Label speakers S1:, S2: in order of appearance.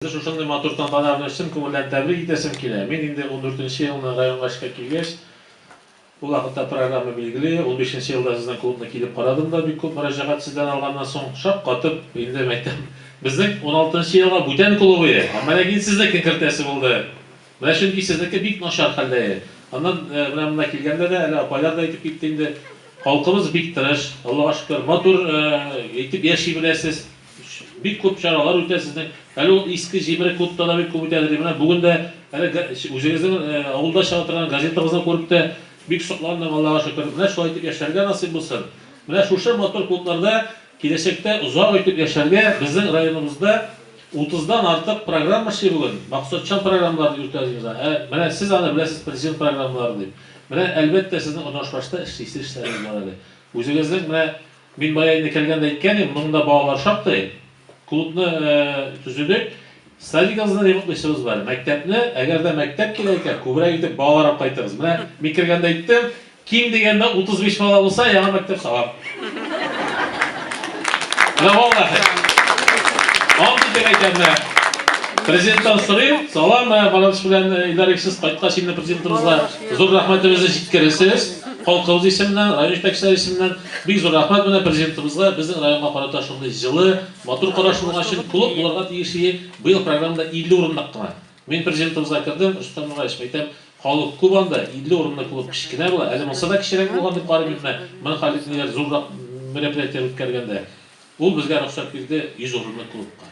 S1: Сезне шушындый матур тантана белән чын күңелдән тәбрик итәсем килә. Мин инде ундүртенче елны районга эшкә килгәч, ул вакытта программа билгели, унбишенче елда сезнең клубны килеп карадым да, бик күп мөрәҗәгать сездән алганнан соң, шаккатып, инде мәктәп, безнең уналтынчы елга бүтән клубые, ә менә гел сезнекен кертәсе булды. Менә чөнки сезнеке бик начар хәлдәе. Аннан менә монда килгәндә дә, әле апайлар да әйтеп китте инде, халкыбыз бик тырыш, Аллага шөкер, матур итеп яши беләсез. Бик күп чаралар үтә сезнең. Әле ул иске җимере клубта да бик күп үтәде, ди. Менә бүген дә әле үзегезнең авылда чыга торган газетагызны күреп тә бик сокландым, Аллага шөкер. Менә шулай итеп яшәргә насыйп булсын. Менә шушы матур клубларда киләчәктә озак итеп яшәргә, безнең районыбызда утыздан артык программа эшли бүген. Максатчан программаларны йөртә ди уза. Ә менә сез аны беләсез, президент программалары дип. Менә әлбәттә сезнең урнашбашта эшлисе эшләрегез бар әле. Үзегезнең менә Мин бая инде кергәндә әйткән идем, моның да балалар шактый. Клубны төзедек. Садигыбызны ремонтлыйсыбыз бар. Мәктәпне, әгәр дә мәктәп килә икән, күбрәк итеп балалар алып кайтыгыз. Менә мин кергәндә әйттем, ким дигәндә 35 бала булса, яңа мәктәп салам. Менә валлахи. Ант итеп әйтәм, менә. Президенттан сорыйм, салам, менә Бараныч белән Илдар икесез кайткач инде президентыбызга зур рәхмәтебезне җиткерерсез. Халкыбыз исеменнән, район җитәкчеләре исеменнән. Бик зур рәхмәт менә Президентыбызга безнең районга карата шундый җылы, матур карашы булган өчен. Клуб булырга тиеш ие, быел программада 50 урынлык кына. Мин Президентыбызга кердем, Рөстәм Нураевич, әйтәм, халык күп анда, 50 урынлы клуб кечкенә була, әле монсы да кечерәк булган дип карыйм мин менә, мең халек ниләр зуррак мероприятие үткәргәндә. Ул безгә рөхсәт бирде 100 урынлы клубка.